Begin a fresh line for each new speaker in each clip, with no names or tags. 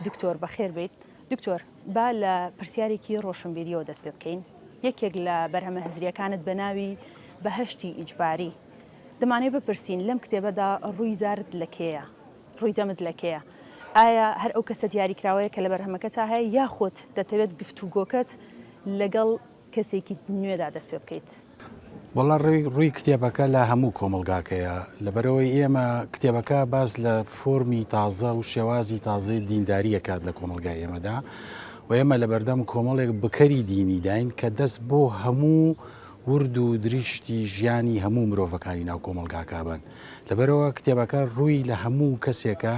دکتۆر بەخێر بێیت. دکتۆر با لە پرسیارێکی ڕۆشنبیریەوە دەست پێ بکەین. یەکێک لە بەرهەمە هزریەکانت بە ناوی بەهەشتی ئیجباری دەمانەوێت بپرسین لەم کتێبەدا ڕووی زارت لە کێیە؟ ڕووی دەمت لە کێیە؟ ئایا هەر ئەو کەسە دیاریکراوەیە کە لە بەرهەمەکەتا هەیە یاخود دەتەوێت گفتوگۆکەت لەگەڵ کەسێکی نوێدا دەست پێ بکەیت؟ وەڵا
ڕووی کتێبەکە لە هەموو کۆمەلگاکەیە لەبەرەوەی ئێمە کتێبەکە باز لە فۆرمی تازە و شێوازی تازەی دینداریە کات لە کۆمەلگای ئێمەدا و ئێمە لە بەردەم کۆمەڵێک بکەری دینی داین کە دەست بۆ هەموو ورد و دریشتی ژیانی هەموو مرۆڤەکانی ناو کۆمەلگاکابن لەبەرەوە کتێبەکە ڕووی لە هەموو کەسێکە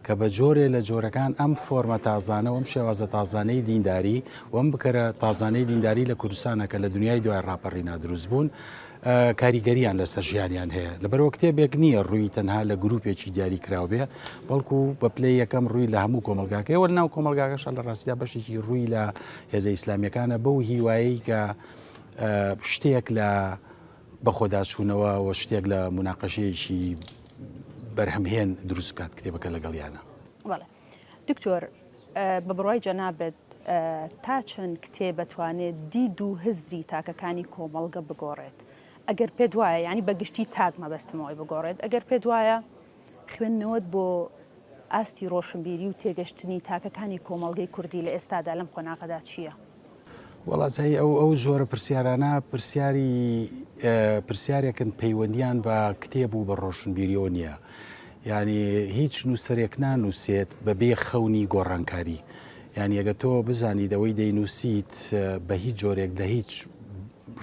کە بە جۆرێ لە جۆرەکان ئەم فۆرمە تازانە و ئەم شێوازە تازانەی دینداری و ئەم بکەرە تازانەی دینداری لە کوردستانە کە لە دنیای دوای ڕاپەڕینا دروست بوون کاریگەریان لەسەر ژیانیان هەیە لەبەرەوە کتێبێک نییە ڕووی تەنها لە گروپێکی دیاری کراو بێ بەڵکو بە پلەی یەکەم ڕووی لە هەموو کۆمەلگاکەی وە ناو کۆمەلگاکەشە لە ڕاستیا بەشێکی ڕووی لە هێزە ئیسلامیەکانە بەو هیوایی کە شتێک لە بەخۆداچوونەوە و شتێک لە مناقەشەیەکی بەرهەمهێن دروست بکات کتێبەکە لەگەڵیانە. بەڵێ
دکتۆر بە بڕوای جەنابت تا چەند کتێب ئەتوانێت دید و هزری تاکەکانی کۆمەڵگە بگۆڕێت؟ ئەگەر پێت وایە یانی بە گشتی تاک مەبەستمە ئەوەی بگۆڕێت ئەگەر پێت وایە خوێندنەوەت بۆ ئاستی ڕۆشنبیری و تێگەشتنی تاکەکانی کۆمەڵگەی کوردی لە ئێستادا لەم قۆناغەدا چییە؟ وەڵا زای
ئەو ئەو جۆرە پرسیارانە پرسیاری پرسیارێکن پەیوەندیان بە کتێب و بە ڕۆشنبیریەوە نییە ینی هیچ نووسەرێک نانووسێت بە بێ خەونی گۆڕانکاری یعنی ئەگە تۆ بزانیت ئەوەی دەینووسیت بە هیچ جۆرێک لە هیچ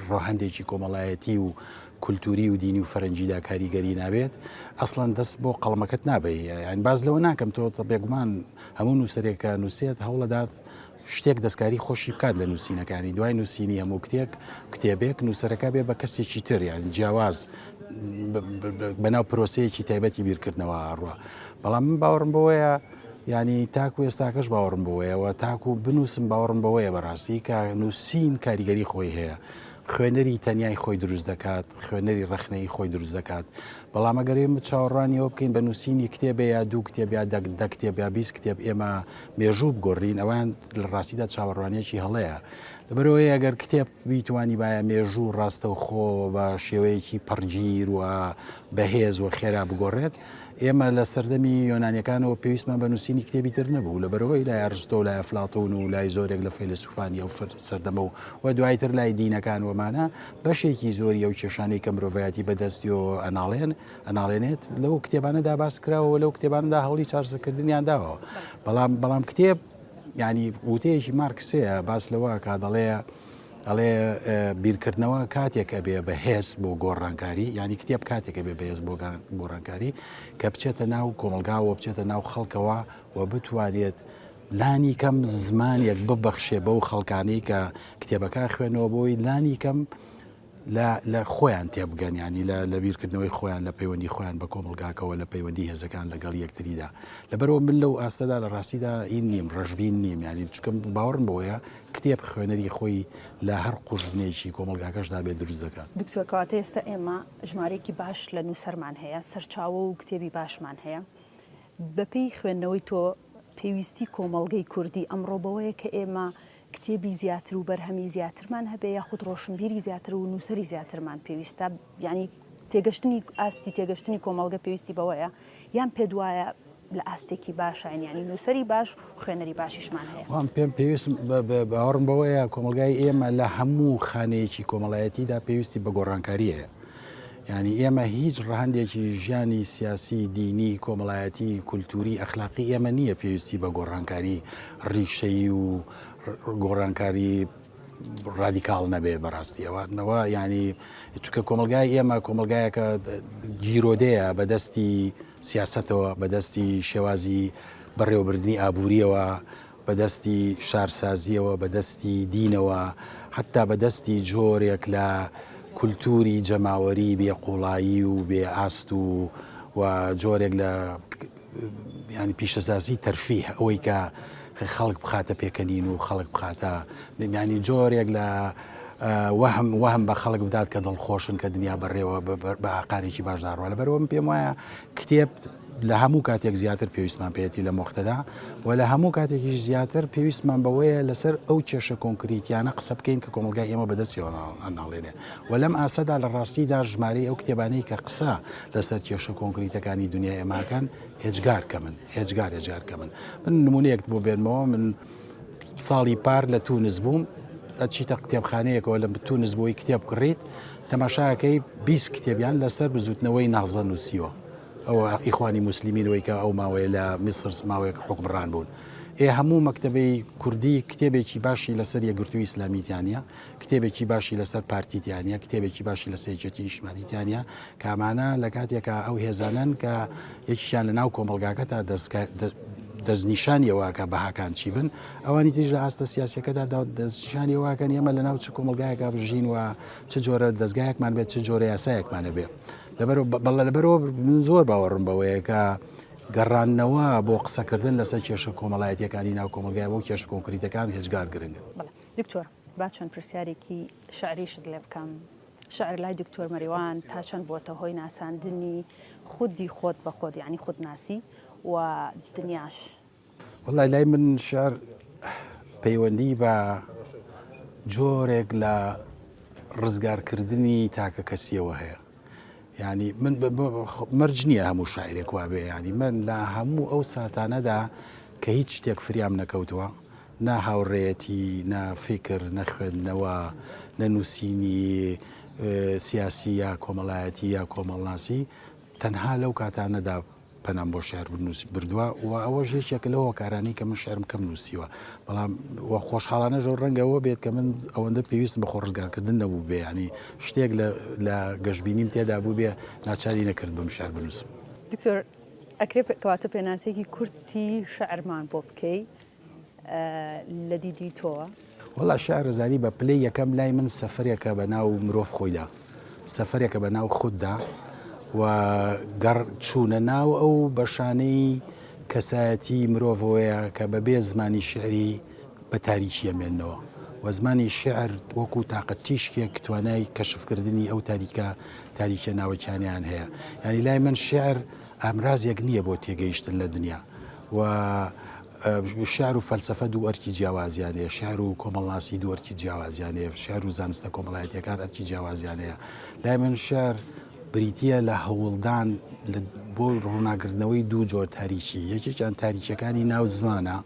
ڕۆهندێکی کۆمەڵایەتی و کولتوری و دینی و فەرەنجیدا کاریگەری نابێت ئەسڵەن دەست بۆ قەڵمەکەت نابی یان باز لەوە ناکەم تۆ بێگومان هەموو نووسەرێکە نووسێت هەوڵەدات شتێک دەستکاری خۆشی بکات لە نووسینەکانی دوای نووسینی هەموو کتێک کتێبێک نووسەرەکە بێ بە کەسێکی تر یان جیاواز بەناو پرۆسەیەکی تایبەتی بیرکردنەوە ئاڕوە بەڵام من باوەڕم بۆیە ینی تاکو ئێستاکەش باوەڕم بۆیەوە تاکو بنووسم باوەڕم بەوەیە بەڕاستی کە نووسین کاریگەری خۆی هەیە خوێنەری تەنیای خۆی دروست دەکات خوێنەری ڕخنەی خۆی دروست دەکات بەڵام ئەگەرێ چاوەڕانیەوە بکەین بە نووسینی کتێبێ یا دوو کتێبیا دەک دە کتێبیا بیست کتێب ئێمە مێژوو بگۆڕین ئەوان لە ڕاستیدا چاوەڕوانیەکی هەڵەیە لەبەرەوەی ئەگەر کتێب بیتوانی باە مێژوو ڕاستە و خۆ بە شێوەیەکی پڕگیر و بەهێز و خێرا بگۆڕێت ئێمە لە سەردەمی یۆنانیەکانەوە پێویستمان بە نووسینی کتێبی تر نەبوو لە بەرەوەی لای ئەرستۆ و لای فلاتون و لای زۆرێک لە فەیلسوفانی ئەو سەردەمە و و دوایتر لای دینەکان وەمانە بەشێکی زۆری ئەو کێشانەی کە مرۆڤایەتی بەدەستیۆ ئەناڵێن ئەناڵێنێت لەو کتێبانەدا باس کراوە لەو کتێباندا هەوڵی چارسەکردنیان داوە بەڵام بەڵام کتێب ینی وتەیەکی مارکسەیە باس لەوە کا دەڵێ ئەڵێ بیرکردنەوە کاتێک ئەبێ بە هێز بۆ گۆڕانکاری ینی کتێب کاتێکە بێ بەهێز بۆ گۆڕانکاری کە بچێتە ناو کۆمەلگاوە بچێتە ناو خەڵکەوە و بتوانێت لانی کەم زمانێک ببەخشێ بەو خەڵکانی کە کتێبەکە خوێنەوە بۆی لانی کەم لە لە خۆیان تێبگەن یانی لە لە بیرکردنەوەی خۆیان لە پەیوەندی خۆیان بە کۆمەڵگاکەوە لە پەیوەندی هێزەکان لەگەڵ یەکتریدا لەبەرەوە من لەو ئاستەدا لە ڕاستیدا ئی نیم ڕژبین نیم یانی چکم باوەڕم بۆیە کتێب خوێنەری خۆی لە هەر قوژبنێکی کۆمەلگاکەشدا بێ دروست دەکات. دکتۆر کەواتە ئێستا
ئێمە ژمارەیەکی باش لە نووسەرمان هەیە، سەرچاوە و کتێبی باشمان هەیە، بەپێی خوێندنەوەی تۆ پێویستی کۆمەڵگەی کوردی ئەمڕۆ بەوەیە کە ئێمە کتێبی زیاتر و بەرهەمی زیاترمان هەبێ یاخود ڕۆشنبیری زیاتر و نووسەری زیاترمان پێویستە یعنی تێگەشتنی ئاستی تێگەشتنی کۆمەڵگە پێویستی بەوەیە یان پێت وایە لە ئاستێکی باشین یعنی نووسەری باش خوێنەری باشیشمان هەیە وام پێم پێویست
باوەڕم بەوەیە کۆمەلگای ئێمە لە هەموو خانەیەکی کۆمەڵایەتیدا پێویستی بە گۆڕانکاریەیە یانی ئێمە هیچ ڕەهەندێکی ژیانی سیاسی، دینی، کۆمەڵایەتی، کولتووری، ئەخلاقی ئێمە نییە پێویستی بە گۆڕانکاری ڕیشەیی و گۆڕانکاری ڕادیکاڵ نەبێ بەڕاستی ئەوانەوە ینی چکە کۆمەلگای ئێمە کۆمەلگایەکە گیرۆدەیە بەدەستی سیاستەوە بەدەستی شێوازی بەڕێوەبردنی ئابووریەوە بە دەستی شارسازییەوە، بە دەستی دینەوە، حەتتا بە دەستی جۆرێک لە کولتووری جەماوەریی بێ قووڵایی و بێ ئاست و و جۆرێک لە یانی پیشەسازیی تەرفیه، ئەوەی کە خەڵک بخاتە پێکەنین و خەڵک بخاتە یانی جۆرێک لە وەهم وەهم بە خەڵک بدات کە دڵخۆشن کە دنیا بەڕێوە بە ئاقارێکی باشدا ڕوانە بەرەوەم پێم وایە کتێب لە هەموو کاتێک زیاتر پێویستمان پێێتی لە مۆختەدا و لە هەموو کاتێکیش زیاتر پێویستمان بەوەیە لەسەر ئەو کێشە کۆنکریتیانە قسە بکەین کە کۆمەلگای ئێمە بەدەستیەوە ناڵێنێ و لەم ئاسەدا لە ڕاستیدا ژمارەی ئەو کتێبانەی کە قسە لەسەر کێشە کۆنکریتەکانی دنیا ئێماکەن هێجگار کە من هێجگار هێجار کە من من نمونەیەکت بۆ بێنمەوە من ساڵی پار لە تونس بووم چیتە کتێبخانەیەکەوە لە تونس بۆی کتێب کڕیت تەماشاکەی 20 کتێبیان لەسەر بزوتنەوەی نازە نووسیوە ئەوە ئیخوانی موسلیمین وەی کە ئەو ماوەیە لە میسر ماوەیەک حوکمڕان بوون ئێ هەموو مەکتتەبەی کوردی کتێبێکی باشی لەسەر یەگرتوو ئیسلامیتیانە کتێبێکی باشی لەسەر پارتیتیانە کتێبێکی باشی لە سێجێتی نیشمانیتیانە کامانە لە کاتێکە ئەو هێزانن کە یەکیان لە ناو کۆمەلگاکە تا دەستکە دەستنیشانیەوەکە بەهاکان چی بن ئەوانی تریش لە ئاستە سیاسەکەدا دەستنیشانی واکەن ئێمە لە ناو چ کۆمەلگایەکە بژین و چ جۆرە دەستگایەکمان بێت چ جۆرە یاسایەکمانە بێ بەڵێ لەبەرەوە من زۆر باوەڕم بەوەیە کە گەڕانەوە بۆ قسەکردن لەسەر کێشە کۆمەڵایەتەکانی ناو کۆمەلگای بۆ کێش کۆنکریتەکان هێزگار گرنگ دکتۆر
با چەند پرسیارێکی شعریشت لێ بکەم شعر لای دکتۆر مەریوان تا چەند بۆتە هۆی ناساندنی خودی خۆت بە خۆت یعنی خودناسی و دنیاش وەڵای
لای من شعر پەیوەندی بە جۆرێک لە ڕزگارکردنی تاکە کەسیەوە هەیە ینی من مەرج نییە هەموو شاعرێک وابێ ینی من لە هەموو ئەو ساتانەدا کە هیچ شتێک فریام نەکەوتووە نا هاوڕێەتی نا فکر نەخوێندنەوە نە نووسینی سیاسی یا کۆمەڵایەتی یا کۆمەڵناسی تەنها لەو کاتانەدا پەنام بۆ شعر بنووس بردووە و ئەوەش یەکێکە لە هۆکارانی کە من شعرم کەم نووسیوە بەڵام و خۆشحاڵانە ژەو ڕەنگەوە بێت کە من ئەوەندە پێویست بە خۆڕزگارکردن نەبوو بێ ینی شتێک لە گەشببینیم تێدا بوو بێ ناچاری نەکرد بم شعر بنووسم دکتۆر
ئەکرێ کەواتە پێناسێکی کورتی شعرمان بۆ بکەی لە دیدی تۆوە؟ وەڵا شارەزایی
بە پلەی یەکەم لای من سەفەرێکە بە ناو مرۆڤ خۆیدا سەفەرێکە بە ناو خوددا و گەڕ چوونە ناو ئەو بەشانەی کەسایەتی مرۆڤەوەیە کە بەبێ زمانی شعری بە تاریکی ئەمێنەوە و زمانی شعر وەکو تااقەت تیشکێک توانای کەشفکردنی ئەو تاریکە تاریکە ناوەکیانیان هەیە یاری لای من شعر ئامرازێک نییە بۆ تێگەیشتن لە دنیا و شیعر و فەلسەفە دوو ئەرکی جیاوازیان هەیە، شیعر و کۆمەڵناسی دوو ئەرکی جیاوازیان هەیە، شیعر و زانستە کۆمەڵایەتییەکان ئەرکی جیاوازیان هەیە. لای من شیعر بریتییە لە هەوڵدان بۆ ڕووناکردنەوەی دوو جۆر تاریکی، یەکێکیان تاریکییەکانی ناو زمانە،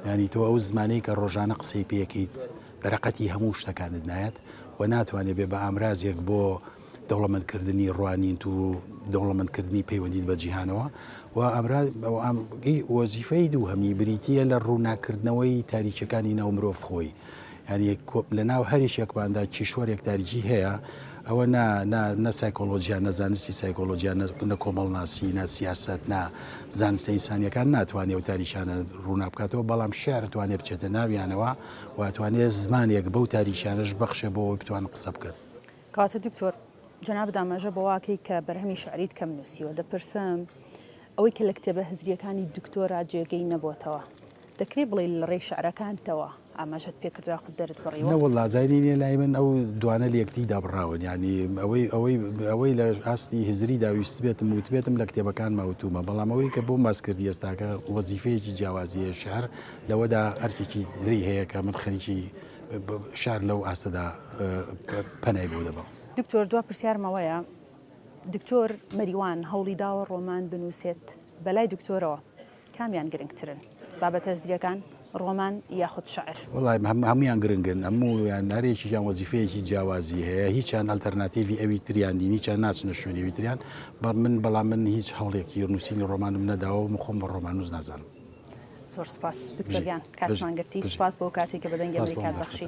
یانی تۆ ئەو زمانەی کە ڕۆژانە قسەی پێ ئەکەیت، بەرەقەتی هەموو شتەکانت نایەت و ناتوانێت بێ بە ئامرازێک بۆ دەوڵەمەندکردنی ڕوانیت و دەوڵەمەندکردنی پەیوەندیت بە جیهانەوە و ئەمرای وەزیفەی دوو هەمی بریتە لە ڕووناکردنەوەی تاریکەکانی ناو مرۆڤ خۆی ینی لە ناو هەریش یەکماندا کیشوەرێک تاریکی هەیە ئەوە نە سایکۆلۆژیان نەزانستی سایکۆلۆژیان نە کۆمەڵناسی نە سیاست نا زانستە ئینسانیەکان ناتوانێت و تاریشانە ڕوونا بکاتەوە بەڵام شارتوانێت بچێتە ناویانەوە واتوانێت زمانێک بەو تاریشانەش بەخشە بۆ بتوان قسە بکەن. کاتی دکتۆر
جەنابت ئاماژە بەوە کەی کە بەرهەمی شعریت کەم نووسیوە، دەپرسم ئەوەی کە لە کتێبە هزرییەکانی دکتۆرا جێگەی نەبۆتەوە، دەکرێ بڵێی لە ڕێی شعرەکانتەوە ئاماژەت پێ کردوە یاخود دەرت بڕیوە؟ نەوەڵڵا جای نی نیە لای
من ئەو دوانە لە یەکدی دابڕاون یانی ئەوەی ئەوەی ئەوەی لە ئاستی هزریدا ویستبێتم وتبێتم لە کتێبەکانما وتومە بەڵام ئەوەی کە بۆم باس کردی ئێستاکە وەزیفەیەکی جیاوازی هەیە شعر لەوەدا ئەرکێکی تری هەیە کە من خەریکی شار لەو ئاستەدا پەنای بۆ دەبەم. دکتۆر دوا پرسیارمەوەیە
دکتۆر مەریوان هەوڵی داوە ڕۆمان بنووسێت بەلای دکتۆرەوە کامیان گرنگترن بابەتە زریەکان ڕۆمان یاخود شعر وڵای هەمویان
گرنگن هەموویان هەرێکیان وەزیفەیەکی جیاوازی هەیە هیچیان ئەلتەرناتیڤی ئەوی تریان دین هیچیان ناچنە شوێنەوی تریان بە من بەڵام من هیچ هەوڵێکی نووسینی ڕۆمانم نەداوە مخۆم بە ڕۆمانوز نازانم
زۆر سوپاس دکتۆر گیان کاتمان گرتی سوپاس بۆ کاتێک کە بە دەنگی ئەمریکات بەخشی.